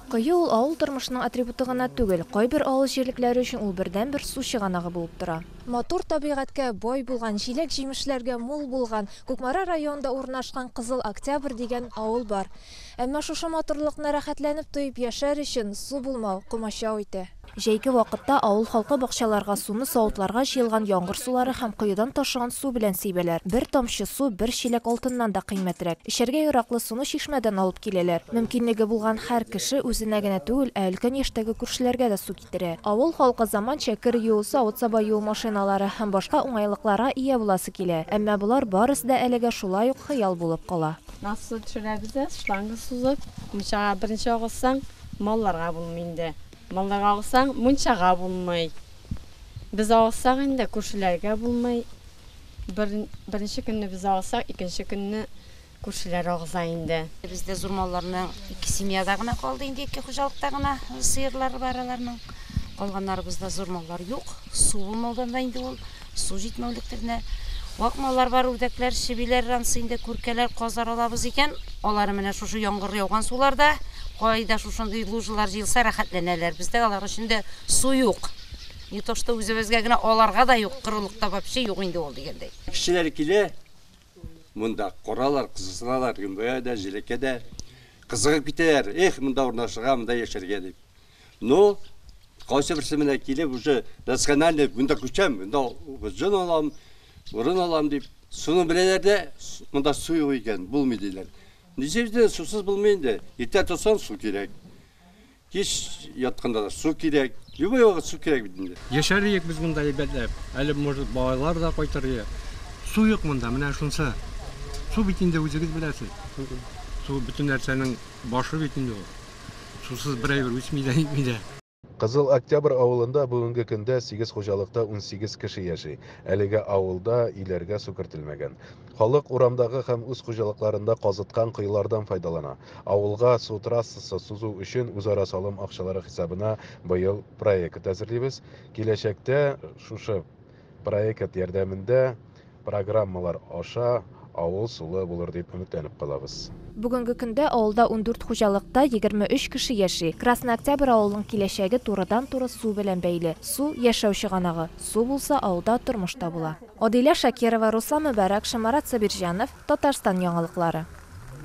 Кое ул авыл тормышының атрибуты гына түгел, кайбер авыл җирлекләре өчен ул бердәнбер су чыганагы булып тора. Матур табигатькә бай булган, җиләк-җимешләргә мул булган Кукмара районында урнашкан Кызыл Октябрь дигән авыл бар. Әмма шушы матурлыкны рәхәтләнеп тоеп яшәр өчен су булмау комачау итә. Җәйге вакытта авыл халкы бакчаларга суны савытларга җыелган яңгыр сулары һәм коедан ташыган су белән сибәләр. Бер тамчы су бер чиләк алтыннан да кыйммәтрәк. Эчәргә яраклы суны чишмәдән алып киләләр. Мөмкинлеге булган һәр кеше үзенә генә түгел, ә өлкән яшьтәге күршеләргә дә су китерә. Авыл халкы заманча кер юу, савыт-саба юу машиналары һәм башка уңайлыкларга ия буласы килә. Әмма болар барысы да әлегә шулай ук хыял булып кала. Насос төшерәбез дә, шланга сузып, мунчага берничә агызсаң, малларга булмый инде. Малларга алсаң, мунчага булмый. Без алсак инде, күршеләргә булмый. Бер, беренче көнне без алсак, икенче көнне күршеләр агыза инде. Бездә зур малларның ике семьяда гына калды инде, ике хуҗалыкта гына сыерлары бар аларның. Калганнарыбызда зур маллар юк. Су булмаудан да инде ул. Су җитмәүлектер менә. Вак маллар бар, үрдәкләр, чебиләр, ансы инде күркәләр, казлар алабыз икән. Алары менә шушы яңгыр яуган суларда, кайда шушындый лужалар җыелса, рәхәтләнәләр. Бездә алар өчен дә су юк. Не то что үзебезгә генә, аларга да юк, корылыкта вообще юк инде ул дигәндәй. Кешеләр килә монда, каралар, кызыксыналар, гөмбәгә дә, җилеккә дә. Кызыгып китәләр, Эх, монда урнашырга, монда яшәргә, дип. Ну, кайсы берсе менә килеп, уже национальный монда күчәм, монда җон алам, урын алам дип, суны беләләр дә, монда су юк икән, булмый диләр. Ничек сусыз булмый инде? Иртә торсаң, су кирәк. Кич ятканда да су кирәк. Любой вакыт су кирәк бит инде. Яшәр идек без монда әйбәтләп. Әле, может, балалар да кайтыр иде. Су юк монда, менә шунысы. Су бит инде үзегез беләсез. Су бөтен нәрсәнең башы бит инде ул. Сусыз бер әйбер үсми дә, нитми дә. Кызыл Октябрь авылында бүгенге көндә сигез хуҗалыкта унсигез кеше яши. Әлегә авылда өйләргә су кертелмәгән. Халык урамдагы һәм үз хуҗалыкларында казыткан коелардан файдалана. Авылга су трассасы сузу өчен үзара салым акчалары хисабына быел проект әзерлибез. Киләчәктә шушы Проект ярдәмендә программалар аша авыл сулы булыр дип өметләнеп калабыз. Бүгенге көндә авылда ундүрт хуҗалыкта егерме өч кеше яши. Красный Октябрь авылының киләчәге турыдан-туры су белән бәйле. Су, яшәү чыганагы. Су булса, авылда тормыш та була. Адилә Шакирова, Руслан Мөбарәк, Шамарат Сабирҗанов, Татарстан яңалыклары.